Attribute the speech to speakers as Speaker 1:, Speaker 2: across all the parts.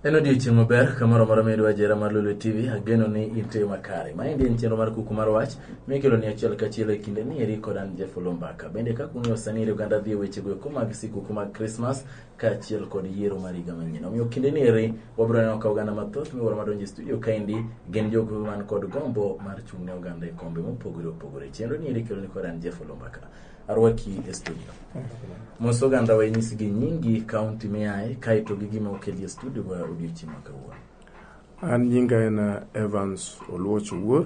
Speaker 1: En odiechieng' maber kamoro moro midwa jera mar Lulu TV, ageno ni inte makare. Maendi en chenro mar kuku mar wach, mikelo ni achiel kachiel e kinde ni eri kod an Jeff Olumbaka. Bende kaka ung'eyo sani eri oganda dhi e wechego eko mag sikuku mag Christmas, kaachiel kod yiero mar higa manyien. Omiyo kinde ni eri wabiro neno ka oganda mathoth miwuoro madonjo e studio kaendi gin jogo man kod gombo mar chung' ne oganda e kombe mopogore opogore. Chenro ni eri keloni kod an Jeff Olumbaka. Arwaki e studio. Mos oganda wa inyisi gi nyingi, kaunti miae, kaeto gi gima okeli e studio wa odiochieng' ma kawuono. An
Speaker 2: nyinga en uh, Evans Oluoch Owuor.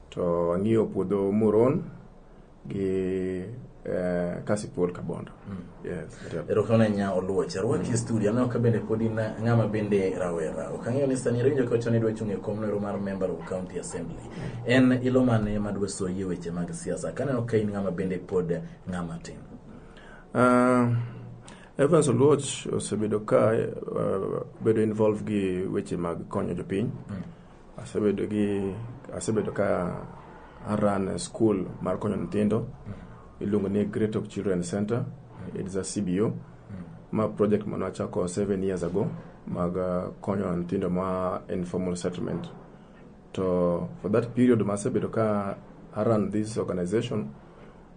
Speaker 2: To ang'iyo puodho Muron gi eh, Kasipul Kabondo. Mm. Yes. Yep. Erokamano nya
Speaker 1: oluoch. Arwaki mm. e studio. Aneno ka bende pod in ng'ama bende rawera. Ok ang'eyo ni sani rinjo ka chon idwa chung' e kom nero mar member of county assembly. En ilo mane ma dwa soyie weche mag siasa. Kaneno ka in ng'ama bende pod ng'ama tin. Uh,
Speaker 2: Evans Oluoch osebedo ka uh, bedo involved gi weche mag konyo jopiny. Mm. Asebedo gi asebedo ka aran school mar konyo nyithindo iluongo ni Great Hope Children Center. It's a CBO. Ma project mane wachako seven years ago mag uh, konyo nyithindo ma informal settlement. To for that period ma asebedo ka aran this organization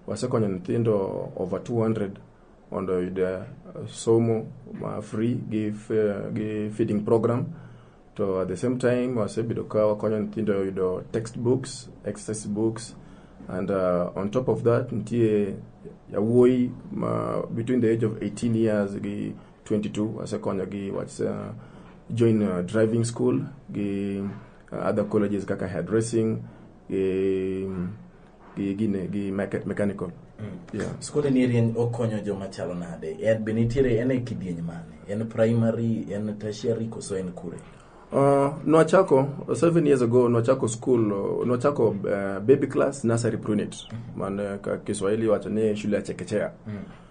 Speaker 2: wasekonyo nyithindo over 200 mondo oyud eh, somo ma free gi, eh, gi feeding program to at the same time wasebedo ka wakonyo nyithindo yudo text books exercise books and uh, on top of that nitie yawuoyi ma between the age of 18 years gi 22 asekonyo gi what's uh, join uh, driving school gi uh, other colleges kaka hairdressing gi um, gi gine gi mechanical mm. skunde
Speaker 1: ni rieny okonyo joma chalo nade en be nitiere en e kidieny mane en primary en tertiary koso en kure Uh, nwachako
Speaker 2: seven years ago nwachako school nwachako uh, baby class nursery prunit mm -hmm. man uh, kiswahili wacho ni shule ya chekechea mm -hmm.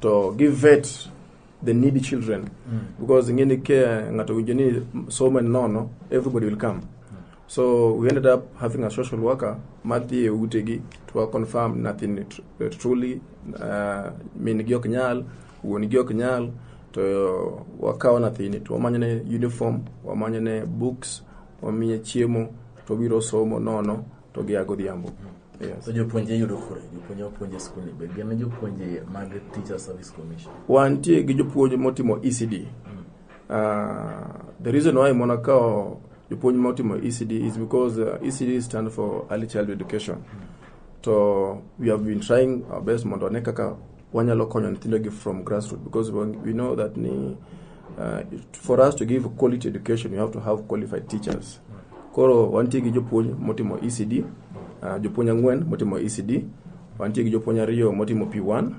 Speaker 2: to give vet the needy children mm. because ingeni ke ngato winjo ni somo en nono everybody will come so we ended up having a social worker madhi e utegi to wa confirm nothing tr- truly uh, min gi ok nyal wuon gi ok nyal to wakawo nathini to wamanyone uniform wamanyone books wamiye chiemo to obiro somo nono to gia godhiambo. Yes. To jopuonje
Speaker 1: yudo kure? Jopuonje wapuonje skul ni be gin jopuonje mag Teacher Service Commission. Wantie gi jopuonj
Speaker 2: motimo ECD. Mm. Uh, the reason why mona kao jopuonj motimo ECD is because uh, ECD stand for Early Child Education. Mm. To we have been trying our best mondo ne kaka Wanyalo konyo nyithindo gi from grassroots because we know that ni uh, for us to give quality education you have to have qualified teachers. Koro wantie gi jopuonj motimo ECD, uh, jopuonj ang'wen motimo ECD, wantie gi jopuonj ariyo motimo P1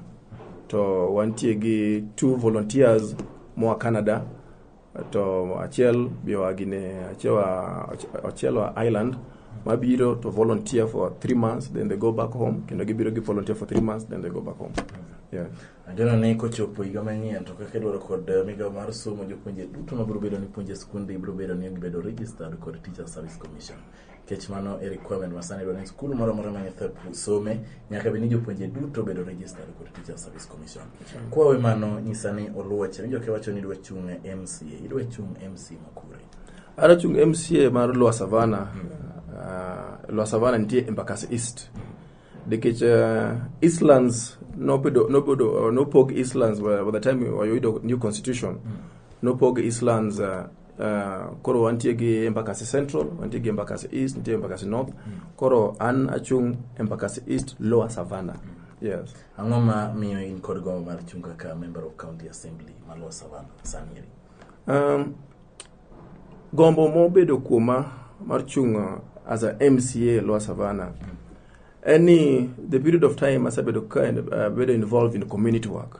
Speaker 2: to wantie gi two volunteers moa Canada to achiel bioa gine achewa achiel wa island mabiro to volunteer for three months then they go back home kendo gibiro gi volunteer for three months then they go back home yeah. Ageno ni
Speaker 1: kochopo higa manyien to kaka idwaro kod eh, migawo mar somo jopuonje duto mabiro bedo ni puonje skunde ibiro bedo ni gibedo registered kod Teacher Service Commission. Nikech mano e requirement ma sani dwa ni skul moro amora ma nyathi some nyaka bed ni jopuonje duto obedo registered kod Teacher Service Commission. Kwawe mano nyisa ni oluoche winjo kiwacho ni idwa chung' e MCA, idwa chung' MCA ma kure. Adwa chung'
Speaker 2: MCA mar Lwa Savana. Uh, Lwa Savana nitie Embakasi East. Nikech uh, Eastlands nobedo nobedo uh, nopog Eastlands by by the time oyudo new constitution. Nopog Eastlands uh, Uh, koro wantie gi embakasi central wantie gi embakasi east nitie embakasi north koro an achung' embakasi east lower savana yes Ang'o ma miyo
Speaker 1: in kod gombo mar chung' kaka member of county assembly ma Lower Savana sani eri? um,
Speaker 2: gombo mobedo kuoma mar chung' uh, as a mca lower savana en ni the period of time asebedo ka uh, bedo involved in community work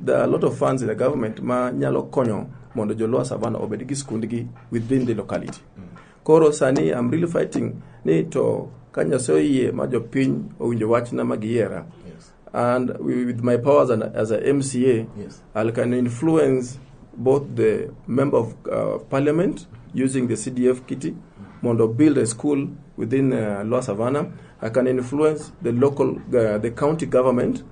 Speaker 2: There are a lot of funds in the government ma nyalo konyo mondo jo Lower Savannah obed gi skundgi within the locality. Koro sani I'm really fighting ni to ka Nyasaye oyie ma jopiny owinjo wachna ma giyiera Yes. and wi- with my powers and, as a MCA, Yes. I can influence both the member of uh, parliament using the CDF kitty, Mondo build a school within uh, Lower Savannah. I can influence the local, uh, the county government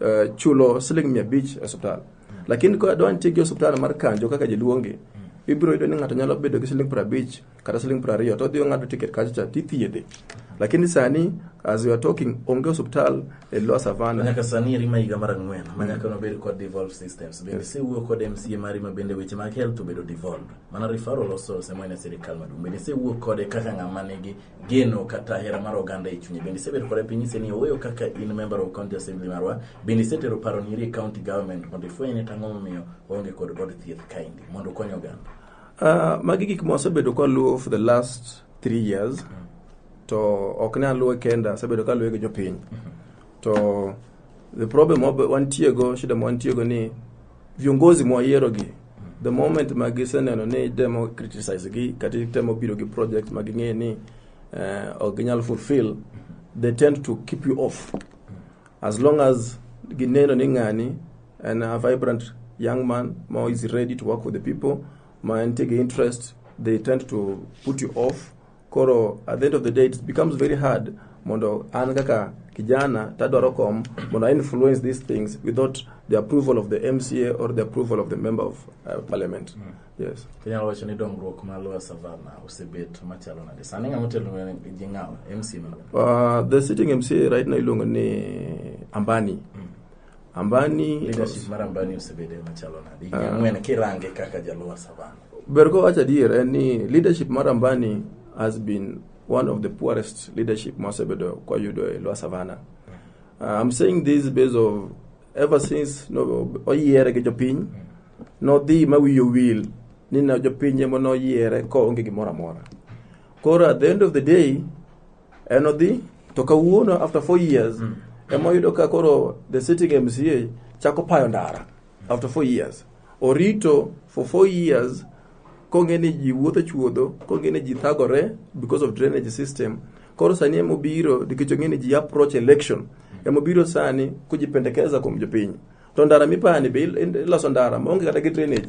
Speaker 2: eh, chulo siling mia abich e osiptal lakini ka dwa nitie gi osiptal mar kanjo kaka jaluongi ibiro yudo ni ng'ato nyalo bedo gi siling piero abich kata siling piero ariyo to odhi ong'ado tiket kacha cha tithiedhe lakini sani as we are talking onge osiptal e lower savana nyaka sani rima higa
Speaker 1: mar ang'wen ma nyaka nobed kod devolved systems bende sewuo kod mca mari ma bende weche mag health obedo devolved mana referral osose mwene sirikal maduong' bende sewuo kode kaka ng'ama nigi geno kata hera mar oganda e chunye. Bende isebedo kod piny nyise ni oweyo kaka in member of county assembly marwa. Bende isetero paro ni rie county government mondo ifweny ni tang'o momiyo onge kod od thieth kaendi mondo okony oganda. Uh, magi gik ma wasebedo
Speaker 2: ka luwo for the last three years mm. to ok ne aluwe kenda asebedo ka luwe gi jopiny mm -hmm. to the problem wantiego shida ma wantiego ni viongozi mwayiero gi the moment ma giseneno ni itemo criticize gi kata itemo biro gi project ma ging'e ni uh, ok ginyal fulfill they tend to keep you off as long as gineno ni ng'ani en a vibrant young man ma is ready to work with the people ma entie gi interest they tend to put you off koro at the end of the day it becomes very hard mondo an kaka kijana tadwaro kom mondo I influence these things without the approval of the MCA or the approval of the member of uh, parliament mm. yes inyalo wacho ni dongruok
Speaker 1: ma Lower Savana osebet machalo nade sani ng'ama otelo ne ji ng'awa MCA uh, the sitting MCA
Speaker 2: right now iluongo ni Ambani mm. Ambani leadership mar
Speaker 1: Ambani osebedo e machalo nade? Higni ah. ang'wen kirange kaka jaluwa savana. Ber ko wacho adier
Speaker 2: en ni leadership mar Ambani has been one of the poorest leadership mosebedo kwayudo e Lwa Savana. Uh, I'm saying this based of ever since no oyiere gi jopiny nodhi ma wiyo wil ni na jopiny ema noyiere ko onge gimoro amora. Koro at the end of the day En odhi to kawuono after four years mm. ema oyudo ka koro the sitting MCA chako payo ndara after four years. Orito for four years kong'e ni ji wuotho chuodho, kong'e ni ji thagore because of drainage system. Koro sani ema obiro nikech ong'e ni ji approach election. Ema obiro sani kujipendekeza kuom jopiny. To ndara mipani be iloso ndara maonge kata gi drainage.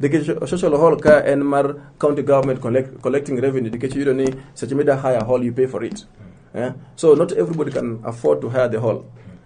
Speaker 2: nikech social hall ka en mar county government collect, collecting revenue nikech yudo ni seche mida hire hall you pay for it eh? so not everybody can afford to hire the hall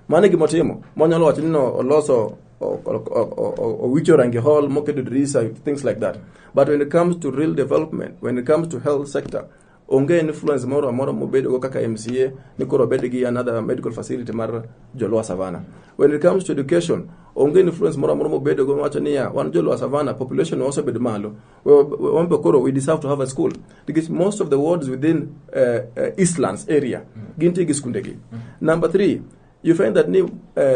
Speaker 2: mano e gima otimo monyalo wacho ni no oloso o- o- o- o- o- owicho rangi hall moketo dirisa things like that but when it comes to real development when it comes to health sector onge influence moro amora mobedogo kaka mca ni koro obed gi another medical facility mar joluo savana when it comes to education onge influence moro amora mobedogo wacho niya wan joluo savana population osebedo malo We- we- wan be koro we deserve to have a school because most of the wards within uh, uh, eastlands area gintie gi skundegi number three you find that ni uh,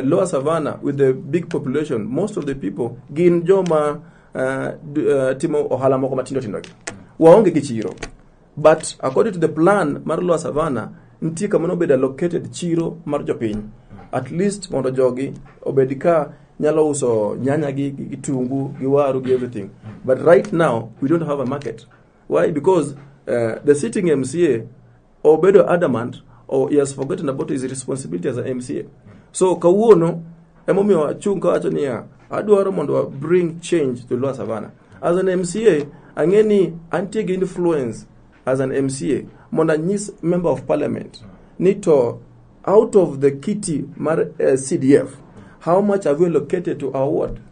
Speaker 2: lower savannah with the big population most of the people gin joma uh, d- uh, timo ohala moko matindo tindo gi waonge gi chiro but according to the plan mar lower savannah nitie kama nobedo allocated chiro mar jopiny at least mondo jogi obed ka nyalo uso nyanya gi gi kitungu gi waru gi everything but right now we don't have a market why because uh, the sitting mca obedo adamant or he has forgotten about his responsibility as a MCA. So kawuono emomiyo achung' kawacho niya adwaro mondo wa bring change to Luo Savana. As an MCA ang'e ni antie gi influence as an MCA mondo anyis member of parliament ni to out of the kiti mar uh, CDF how much have we allocated to our ward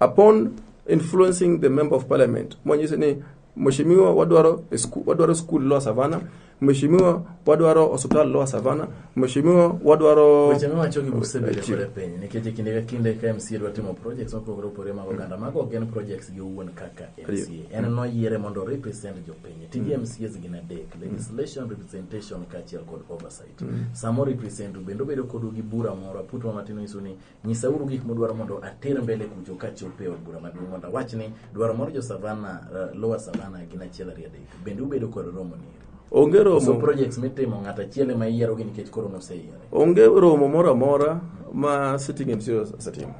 Speaker 2: Upon influencing the member of parliament mwanyise ni mheshimiwa wadwaro a sku- wadwaro school lower savana mheshimiwa wadwaro hospital lower savana mheshimiwa wadwaro Weche miwacho gi Museveni
Speaker 1: Chief. kore piny nikech e kinde ka kinde ka MCA dwa timo projects mopogore opogore mag oganda mago ok en projects gi owuon kaka MCA en noyiere mondo represent jopiny tije MCAs gin adek legislation representation kaachiel kod oversight samo represent bende obedo kodu gi bura moro aput ma matin onyiso ni Nyisauru gik mudwaro mondo ater mbele kucho kachop e od bura maduong' mondo awach ni dwaro mar jo Savana, uh, Lower Savana gin achiel ariyo adek. Bende ubedo kod romo ni eri. Onge romo. So
Speaker 2: projects mitimo
Speaker 1: ng'at achiel ema iyiero gi nikech koro noseyiere. Onge romo moro
Speaker 2: amora ma sitting MC osetimo.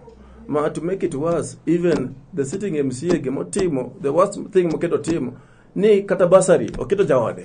Speaker 2: Ma to make it worse, even the sitting MC gimotimo, the worst thing moketo timo ni kata basari oketo jaode.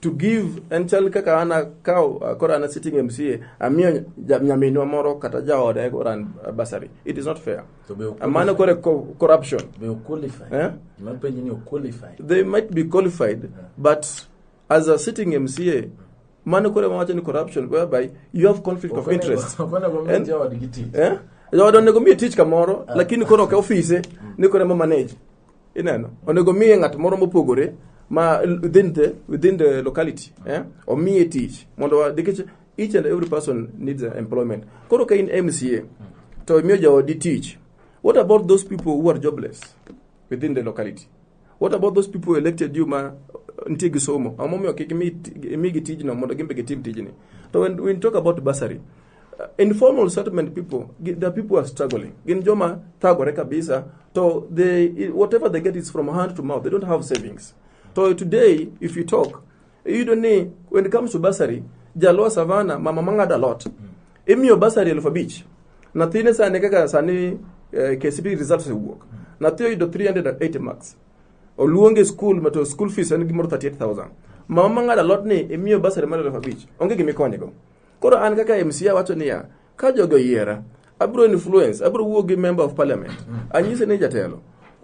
Speaker 2: to give en chal kaka an akawo koro an sitting MCA amiyo ja- nyaminwa moro kata jaoda koro an basari it is not fair To be okweli- mano kore co- corruption be oqualify
Speaker 1: Eh? gima penji ni oqualify they might be qualified
Speaker 2: but as a sitting MCA mano kore mawacho ni corruption whereby you have conflict of interest okone go mi And- jawadgi tich eh jaoda onego miye tich kamoro lakini koro ok ofise ni koro ema manage Ineno, onego miye ng'at moro mopogore ma within the, within the locality eh? omiye tich mondo nikech each and every person needs employment. Koro ka in MCA to imiyo jaodi tich, what about those people who are jobless within the locality? What about those people elected you ma nitie gi somo? Ang'o momiyo kik imigi tijno mondo gimbe gitim tijni? To when we talk about bursary, informal settlement people, gi- the people are struggling. Gin joma thagore kabisa, so they whatever they get is from hand to mouth. They don't have savings. So today, if you talk, you don't need when it comes to bursary, Jalwa Savana, mama mangada lot. Imiyo bursary elfu abich. Nathine sani kaka sani eh, KCPE results owuok. Nathi oyudo 380 marks. Oluonge school mato school fees en gimoro 38000. Mama mangada lot ni imiyo bursary mar elfu abich. Onge gimikonye go. Koro an kaka MCA awacho niya, ka jogo yiera, abro influence, abro wuo gi member of parliament. Anyise ni jatelo,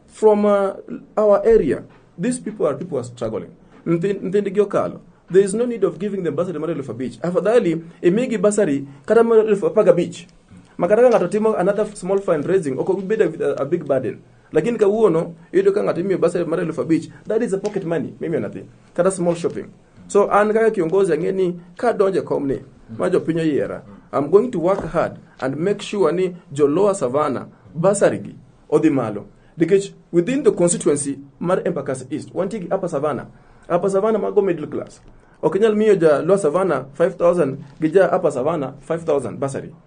Speaker 2: from uh, our area, these people are people who are struggling. Nthin- Nthindgi okalo. There is no need of giving them bursary mar elfu abich. Afadhali imigi bursary kata mar elfu apar gabich. Ma kata ka ng'ato timo another small fundraising, ok obedo a, a big burden. Lakini kawuono, iyudo ka ng'ato imiyo bursary mar elfu abich, that is a pocket money, mimiyo nyathi. Kata small shopping. So an kaka kiongozi ang'e ni ka donje kom ni ma jopiny oyiera, I'm going to work hard and make sure ni jo Lower Savannah basari gi odhi malo. Nikech within the constituency mar Embakasi East, wantie gi Upper Savannah. Upper Savannah mago middle class. Ok inyal miyo ja Lower Savannah 5000 gi ja Upper Savannah 5000 basari.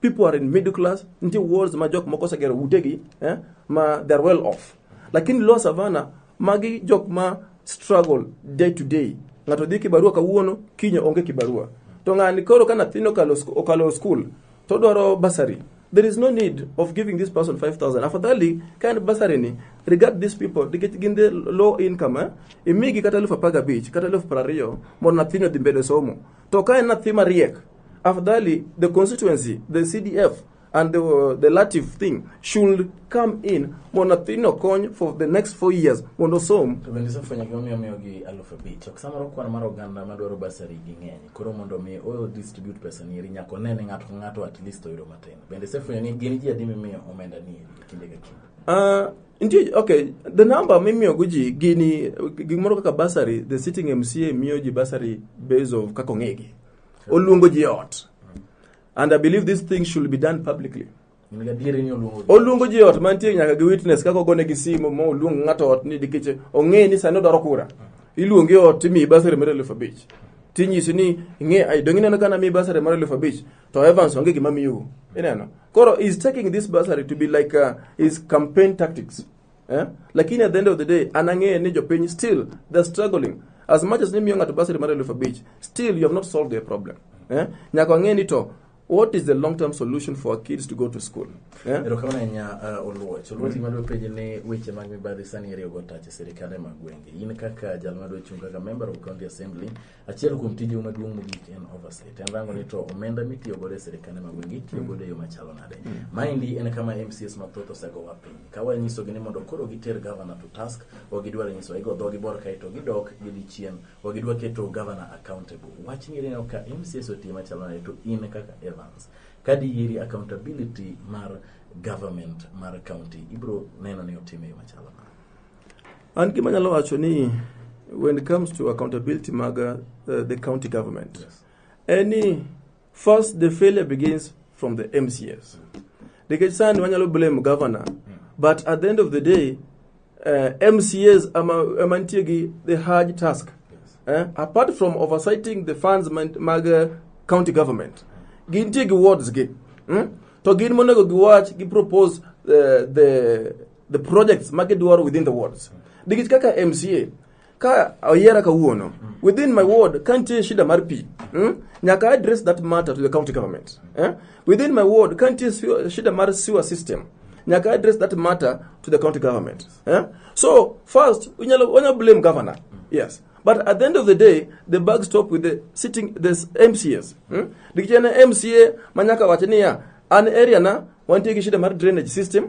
Speaker 2: people are in middle class nitie wards ma jok moko osegero utegi eh, ma they're well off lakini lower savana magi jok ma struggle day to day ng'ato dhi kibarua kawuono kiny onge kibarua to ng'ani koro ka nyathini okalo sku- okalo school to odwaro basari there is no need of giving this person 5000 afadhali ka en basari ni regard these people nikech gin the low income eh? imigi kata elfu apar gabich kata elfu piero ariyo mondo nyathini odhi mbele somo To ka en nathi mariek, afadhali the constituency, the CDF and the, uh, the latif thing should come in mondo nathino kony for the next four years mondo som. To bende isefwenyo gimomiyo
Speaker 1: miyogi aluf abich. Ok samoro kwan mar oganda madwaro basari gi ng'eny. Koro mondo mi o distribute pesa nieri nyaka one ni ng'ato ka ng'ato at least oyudo matin. Bende isefwenyo ni gin ji adi mimiyo omenda nieri e kinde ka kinde. Uh, Nitie, okay, the number
Speaker 2: mimiyogo ji gini gimoro kaka basari, the sitting MCA miyo ji basari based of kaka ong'egi. Oluongo ji e ot. And I believe this thing should be done publicly. In gadieri ni oluongo. Oluongo ji e ot mantie nyaka gi witness kaka ogone gi simu ma oluong ng'ato ot ni dikech ong'e ni sani odwaro kura. Iluongi e ot timiyi basari mar elfu abich. Tinyisi ni ing'e ai donge ineno ka namiyi basari mar elfu abich. to Evans onge gima miyo ineno koro is taking this bursary to be like uh, his campaign tactics eh? lakini at the end of the day anang'eye ni jopiny still they're struggling as much as nimiyo ng'ato bursary mar elfu abich still you have not solved the problem eh? nyaka wang'e ni to what is the long term solution for our kids to go to school eh? erokamano ahinya
Speaker 1: uh, oluoch oluoch gima dwa penji ni weche mag mibadhi sani iriwogo tach e sirikal e mag gwenge in kaka jal ma dwa chung' kaka member of county assembly Achiel kuom tijeu maduong' mogik en oversight. En rango ni to omenda mitiyo godo e sirkande ma gwenge itiyo godo e yo machalo nade. Maendi en kama MCS mathoth osegowa piny. Ka wanyisogi ni mondo koro giter gavana to task, ok gidwar nyisowa. Igo dhogi bor kae to gidok gidhi chien. Ok gidwa keto gavana accountable. Wachni ineno ka MCS otiye machalo nade to in kaka Evans. Ka diyieri accountability mar government mar county ibiro neno ni otime e yo machalo nade.
Speaker 2: An gima nyalo wacho ni when it comes to accountability mag uh, the county government yes. any first the failure begins from the MCS nikech sani wanyalo blame governor mm. but at the end of the day uh, MCS ama nitie gi the hard task yes. eh? apart from oversighting the funds mag uh, county government gintie gi wards gi hmm? to gin monego giwach gi propose uh, the the projects ma gidwaro within the wards nikech kaka mca ka oyiera kawuono within my ward ka nitie shida mar pi mm, nyaka address that matter to the county government eh? within my ward ka nitie sewer- shida mar sewer system nyaka address that matter to the county government eh? so first unyalo unyalo blame governor yes but at the end of the day the bag stop with the sitting the mcs mm? nikech en mca ma nyaka wache niya an area na wantie gi shida mar drainage system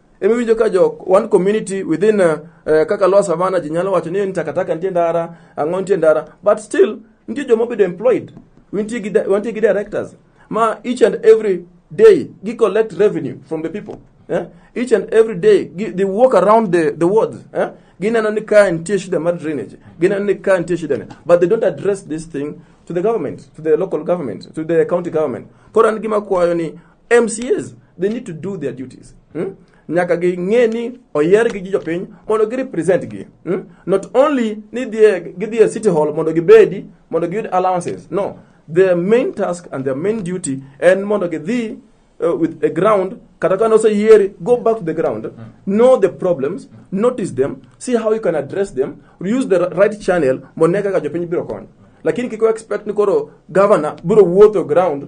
Speaker 2: ema iwinjo ka jo one community within uh, uh, kaka lower savana ji nyalo wacho ni ni takataka nitie ndara ang'o nitie ndara but still nitie joma obedo employed wantie gi di- wantie gi directors ma each and every day gi collect revenue from the people eh? each and every day gi, they walk around the, the wards eh? gineno ni ka nitie shida mar drainage gineno ni ka nitie shida ne but they don't address this thing to the government to the local government to the county government koro an gima kwayo ni MCAs they need to do their duties hmm? nyaka ging'e ni oyergi gi jopiny mondo gi represent gi hmm? not only ni dhie- gidhi e city hall mondo gibedi mondo giyud allowances no their main task and their main duty en mondo gidhi uh, with a ground kata ka noseyieri go back to the ground know the problems notice them see how you can address them use the right channel mondo ne kaka jopiny biro kony lakini kik expect ni koro governor biro wuotho ground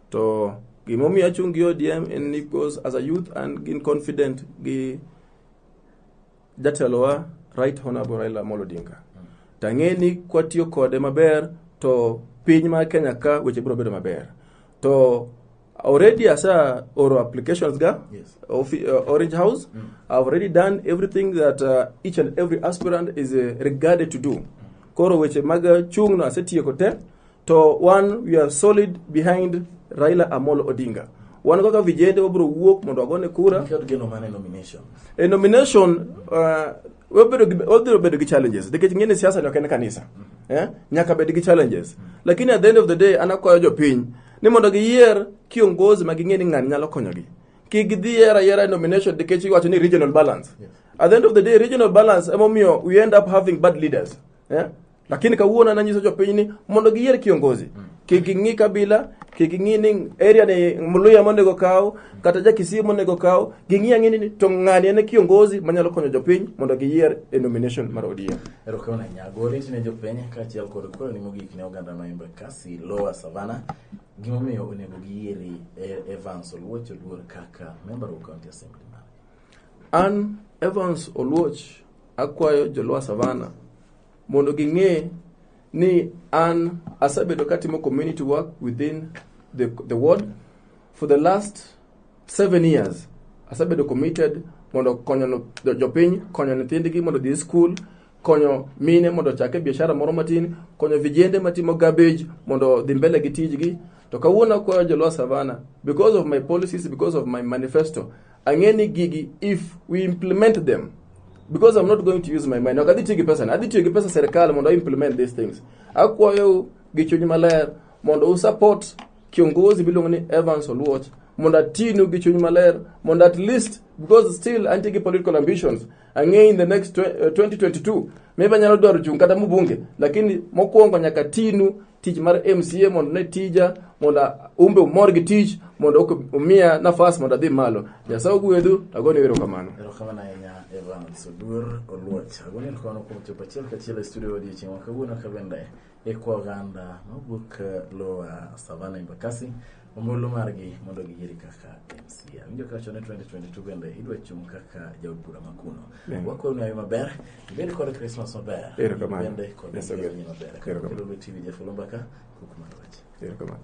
Speaker 2: To gimomiyo achung' gi ODM en ni because as a youth and gin confident gi jatelowa Right Honorable Raila Amolo Odinga. Tang'e ni kwatiyo kode maber to piny mar Kenya ka weche biro bedo maber. To already asa oro applications ga Yes. Offi- uh, Orange House. I've already done everything that uh, each and every aspirant is uh, regarded to do. Koro weche mag uh, chung'no asetieko te To one we are solid behind Raila Amolo Odinga. Wan kaka vijende wabro wuok mondo agone kura. Nikod geno mane nomination.
Speaker 1: E nomination
Speaker 2: uh, wabiro wabiro bedo gi challenges nikech ng'ene siasa ni ok en kanisa. Mm -hmm. Eh? Nyaka bed gi challenges. Mm -hmm. Lakini at the end of the day anakwayo jopiny ni mondo giyier kiongozi ma ging'e ni ng'ani nyalo konyogi. Kik gidhi yiera yiera e nomination nikech iwacho ni regional balance. Yes. At the end of the day regional balance emomiyo we end up having bad leaders. Eh? lakini kawuono nanyiso jopiny ni mondo giyier kiongozi mm. kik ing'i kabila kik ing'i ni area ni mluya monego kaw kata jakisii monego kaw ging'i ang'e ni to ng'ani en kiongozi manyalo konyo jopiny mondo giyier e nomination mar ODM erokamano nyago
Speaker 1: oriti ne jopiny kaachiel kod kwero ni mogik ne oganda ma Embakasi Lower Savana gimomiyo onego giyieri e, Evans Oluoch Oduor kaka member of county assembly an
Speaker 2: Evans Oluoch akwayo joluo Savana mondo ging'e ni an asebedo katimo community work within the, the ward for the last seven years asebedo committed mondo konyo no- jo- jopiny konyo nyithindgi mondo odhi e skul konyo mine mondo ochake biashara moro matin konyo vijende matimo garbage mondo odhi mbele gi tijgi to kawuono akwayo joluo savana because of my policies because of my manifesto Ang'e ni gigi if we implement them because I'm not going to use my mind. Ok adhi tiyo gi pesa, adhi tiyo gi pesa serikal mondo I implement these things. Akwayo gi chuny maler mondo u support kiongozi miluongo ni Evans Oluoch mondo atinu gi chuny maler mondo at least because still antie gi political ambitions ang'e in the next 2022 uh, maybe anyalo dwaro chung' kata mbunge lakini mokwongo nyaka tinu tich mar mca mondo ne tija mondo umbe umor gi tich mondo umiya nafas mondo adhi malo nyasaye ogwedhu agoni wero kamano erokamano ahinya
Speaker 1: evans oduor oluoch agoni erokamano kuom chopo achiel kachiel e studio odiochieng' ma kawuono ka bende ekwoganda mawuok lowa savana embakasi ombulu margi mondo giyieri kaka mca winjo kacho ni 2022 bende idwa chung' kaka jaod bura makuno Yeah. wakwoni ayo maber ibed kod krismas maber Erokamano. bende kod Yes, okay. ngeronyi maber Erokamano. kakelo tv jafolo
Speaker 2: mbaka
Speaker 1: kukumarwach Erokamano.